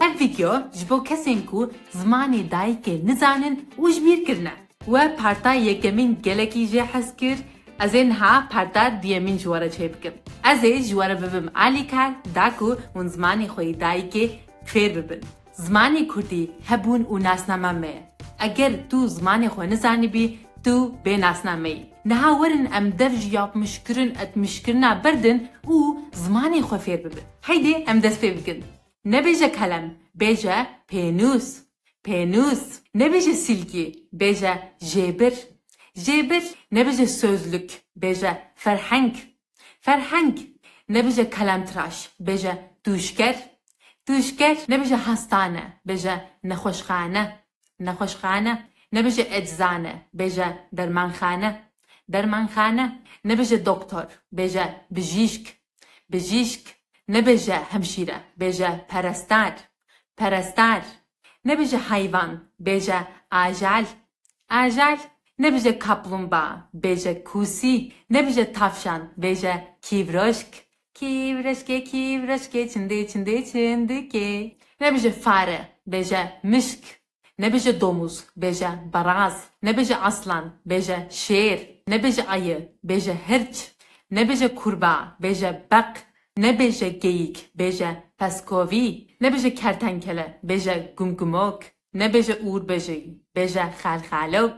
Ev vîdyo ji bo kesên ku zimanê dayikê nizanin û ji bîr kirine. We parta yekemîn gelekî jê hez kir, ez ê niha parta duyemîn ji we re çê bikim. Ez ê ji we re bibim alîkar da ku hûn zimanê xwe yê dayikê fêr bibin. Zimanê kurdî hebûn û nasnama me ye. Eger tu zimanê xwe nizanibî, tu bê nasname yî. Niha werin em dev ji yapmişkirin, etmişkirina berdin û zimanê xwe fêr bibin. Heydê em dest pê bikin. Nebêje kelem, bêje pênûs. Pênûs. Nebêje sîlkî, bêje jêbir. Jêbir. Nebêje sozluk, bêje ferheng. Ferheng. Nebêje kelemtiraş, bêje tûşker. Tûşker. Nebêje hastane, bêje nexweşxane. Nexweşxane. Nebêje eczane, bêje dermanxane. Dermanxane. Nebêje doktor, bêje bijîşk. Bijîşk, nebêje hemşîre, bêje perestar, perestar, nebêje heyvan, bêje ajal, ajal, nebêje kaplumba, bêje kûsî, nebêje tavşan, bêje kîvroşk, kîvroşkê, kîvroşkê, çindê, çindê, çindikê, nebêje fare, bêje mişk, Nebêje domûz, bêje baraz. Nebêje aslan, bêje şêr. Nebêje ayı, bêje hirç. Nebêje kurba, bêje beq. Nebêje geyik, bêje peskovî. Nebêje kertenkele, bêje gumgumok. Nebêje ûrbejî, bêje xelxelok.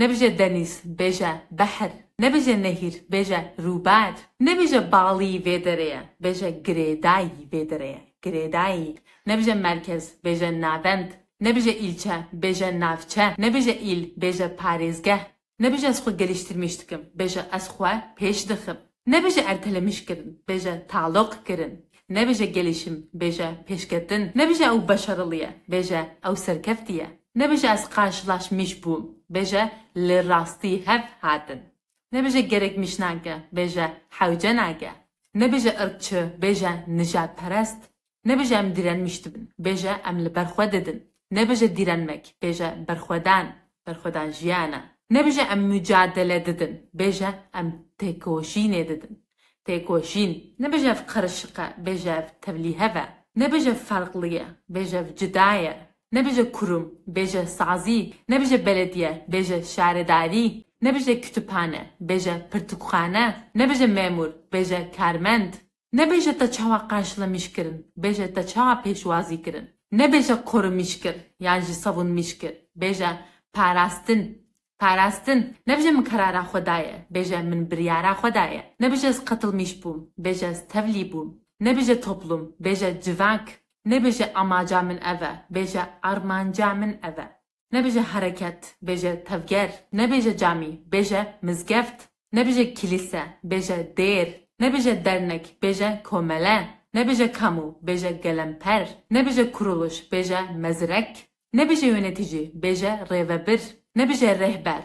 Nebêje denîz, bêje behr. Nebêje nehîr, bêje rûber. Nebêje balî vê derê ye, bêje girêdayî vê derê ye, girêdayî. Nebêje merkez, bêje navend. Nebêje îlçe, bêje navçe. Nebêje îl, bêje parêzgeh. Nebêje ez xwe gelîştirmîş dikim, bêje ez xwe pêş dixim. Nebêje ertelemiş kirin, bêje tealoq kirin. Nebêje gelişim, bêje pêşketin. Nebêje ew beşeriliye, bêje ew serkeftiye. Nebêje ez qarşilaşmiş bûm, bêje li rastî hev hatin. Nebêje gerek miş nake, bêje hewce nake. Nebêje irqçi, bêje nijadperest. Nebêje em dîrenmîş dibin, bêje em li ber xwe didin. Nebêje dîrenmek, bêje berxwedan, berxwedan jiyan e. Nebêje em mucadele didin, bêje em têkoşînê didin, têkoşîn. Nebêje ev qerişiq e, bêje ev tevlîhev e. Nebêje ev ferqli ye, bêje ev cuda ye. Nebêje kurum, bêje sazî. Nebêje belediye, bêje şaredarî. Nebêje kutubhane, bêje pirtûkxane. Nebêje memûr, bêje karmend. Nebêje te çawa qenşlimîş kirin, bêje te çawa pêşwazî kirin. Nebêje qurimîş kir yan jî sabûnmîş kir, bêje parastin, parastin. Nebije min karara xwe daye, bêje min biryara xwe daye. Nebije ez qetilmîş bûm, bêje ez tevlî bûm. Nebije toplum, bêje civak. Nebêje amaca min ev e, bêje armanca min ev e. Nebêje hereket, bêje tevger, nebêje camî, bêje mizgeft, nebêje kilîse, bêje dêr, nebêje dernek, bêje komele, nebêje kamu, bêje gelemper, nebêje kuruluş, bêje mezirek, nebêje yönetici, bêje rêvebir, nebêje rêhber,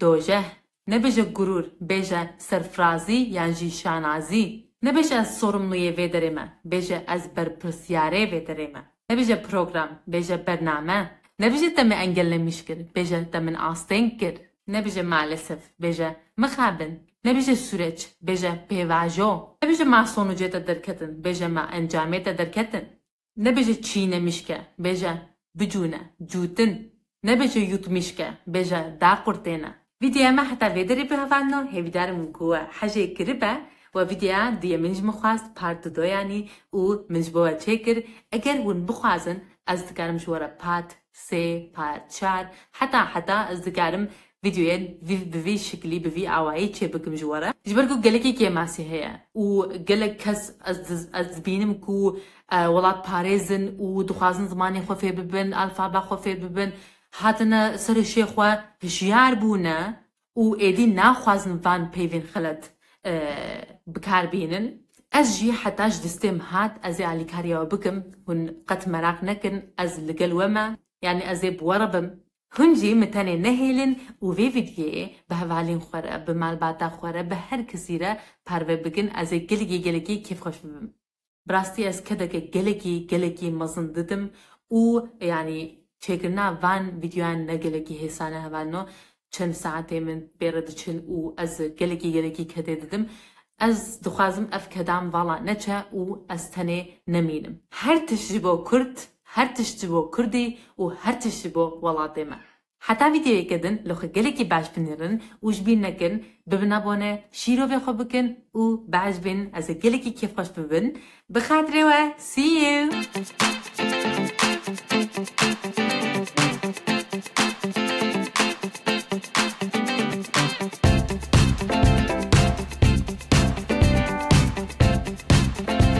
Dojeh, nebêje gurûr, bêje serfirazî yan jî şanazî. Nebêje ez sorumluyê vê derê me, bêje ez berpirsyarê vê derê me. Nebêje program, bêje bername. Nebêje te min engel nemîş kir, bêje te min asteng kir. Nebêje malesef, bêje mixabin. Nebêje sûreç, bêje pêvajo. Nebêje ma sonucê te derketin, bêje ma encamê te derketin. Nebêje çîne mişke, bêje bicûne, cûtin. Nebêje yût mişke, bêje daqurtêne. Vîdyoya me heta vê derê bihevandino, hêvîdar im ku we hejê kiribe we vîdyoya duyê min ji min xwest part du doyanî û min ji bo we çêkir, eger hûn bixwazin ez dikarim ji we re part sê, part çar heta heta ez dikarim Vîdyoyê vî bi vî şiklî, bi vî awayî çê bikim ji we re, ji ber ku gelekî kêm a sihê ye û gelek kes ez ez dibînim ku welatparêz in û dixwazin zimanê xwe fêr bibin, alfabe xwe fêr bibin, hatine ser û şê xwe, hişyar bûne û êdî naxwazin van peyvên xelet bi kar bînin. Ez jî heta ji distêm hat ez ê alîkariya we bikim, hûn qet meraq nekin, ez li gel we me, yanî ez ê bi we re bim, Hûn jî min tenê nehêlin û vê vîdyeyê bi hevalên xwe re, bi malbata xwe re, bi her kesî re parve bikin, ez ê gelekî gelekî kêfxweş bibim. Bi rastî ez kedeke gelekî gelekî mezin didim û yanî çêkirina van vîdyoyan ne gelekî hêsane hevalin o, çend saetê min bê re diçin û ez gelekî gelekî kedê didim. Ez dixwazim ev kedan vala neçe û ez tenê nemînim. Her tişt ji bo kurd Her tişt ji bo Kurdî û her tişt ji bo welatê me. Heta vîdeoyeke din li xwe gelekî behs binêrin û ji bîr nekin, bibin abone, şîrovê xwe bikin û behs bin ez ê gelekî kêfxweş bibin. Bi xatirê we see you.